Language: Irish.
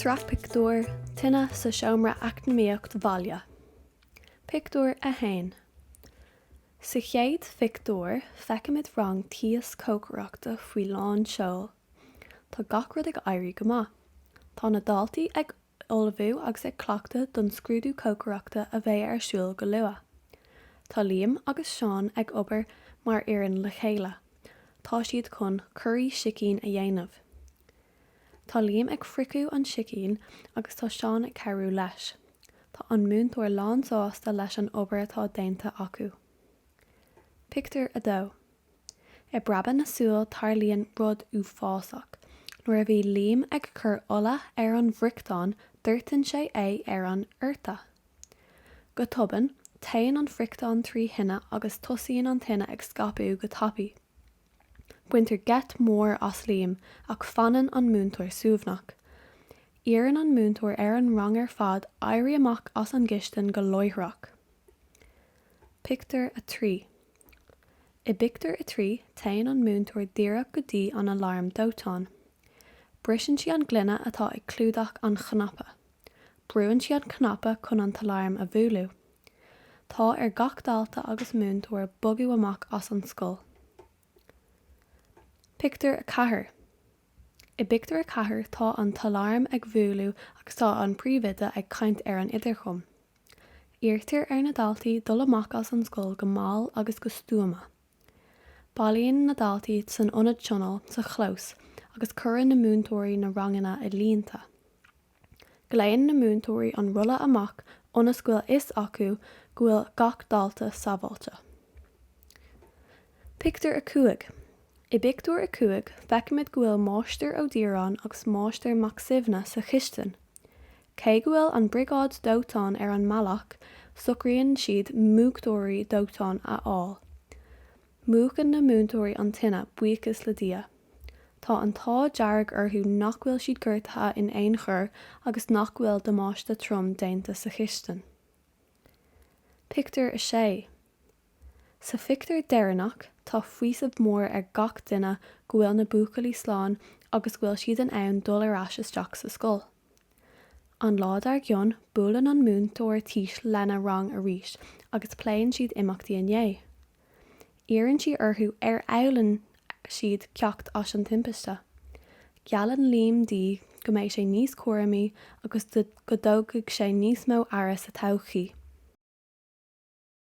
Sraith Pictiúr, Tine sa Seomra Eacnamaíocht Bhaile. Pictiúr 1 Sa chéad phictiúr, feicimid rang tís cócaireachta faoi lán seol. Tá gach rud ag éirí go maith. Tá na daltaí ag ullmhú agus ag cleachtadh don scrúdú cócaireachta a bheidh ar siúl go luath. Tá Liam agus Seán ag obair mar fhoireann le chéile. Tá siad chun curaí sicín a dhéanamh. Tá Liam ag friochadh an tsicín agus tá Seán ag cabhrú leis. Tá an múinteoir lán-sásta leis an obair atá déanta acu. Pictiúr 2. I bpreabadh na súl tarlaíonn rud uafásach. Nuair a bhí Liam ag cur ola ar an bhfriochtán doirteann sé é ar an sorn. Go tobann, téann an friochtán trí thine agus tosaíonn an tine ag scaipeadh go tapaidh. Baintear geit mór as Liam ach fanann an múinteoir suaimhneach. Iarrann an múinteoir ar an rang ar fad éirí amach as an gcistin go láithreach. Pictiúr 3. I bpictiúr a trí, téann an múinteoir díreach go dtí an aláram dóiteáin. Briseann sí an gloine atá ag clúdach an chnaipe. Brúann sí an cnaipe chun an t-aláram a bhualadh. Tá ar gach dalta agus múinteoir bogadh amach as an scoil. Pictiúr 4 I bpictiúr a ceathair, tá an t-aláram ag bhualadh agus tá an príomhoide ag caint ar an idirchum. Iarrtar ar na daltaí dul amach as an scoil go mall agus go stuama. Bailíonn na daltaí san ionad tionóil sa chlós agus cuireann na múinteoirí na ranganna i línte. Glaonn na múinteoirí an rolla amach ionas go bhfuil a fhios acu go bhfuil gach dalta sábháilte. Pictiúr 5 I bpictiúr a cúig feicimid go bhfuil Máistir Ó Díreáin agus Máistir Mac Suibhne sa chistin. Cé go bhfuil an briogáid dóiteáin ar an mbealach, socraíonn siad múchtóirí dóiteáin a fháil. Múchann na múinteoirí an tine, buíochas le Dia. Tá an t-ádh dearg orthu nach bhfuil siad gortaithe in aon chor agus nach bhfuil damáiste trom déanta sa chistin. Pictiúr 6 Sa phictiúr deireanach, tá faoiseamh mór ar gach duine go bhfuil na buachaillí slán agus go bhfuil siad in ann dul ar ais isteach sa scoil. An lá dar gcionn, buaileann an múinteoir tís lena rang arís agus pléann siad imeachtaí inné. Iarrann sí orthu ar fhoghlaim siad ceacht as an timpiste. Geallann Liam di go mbeidh sé níos cúramaí agus go dtógfaidh sé níos mó aire sa todhchaí.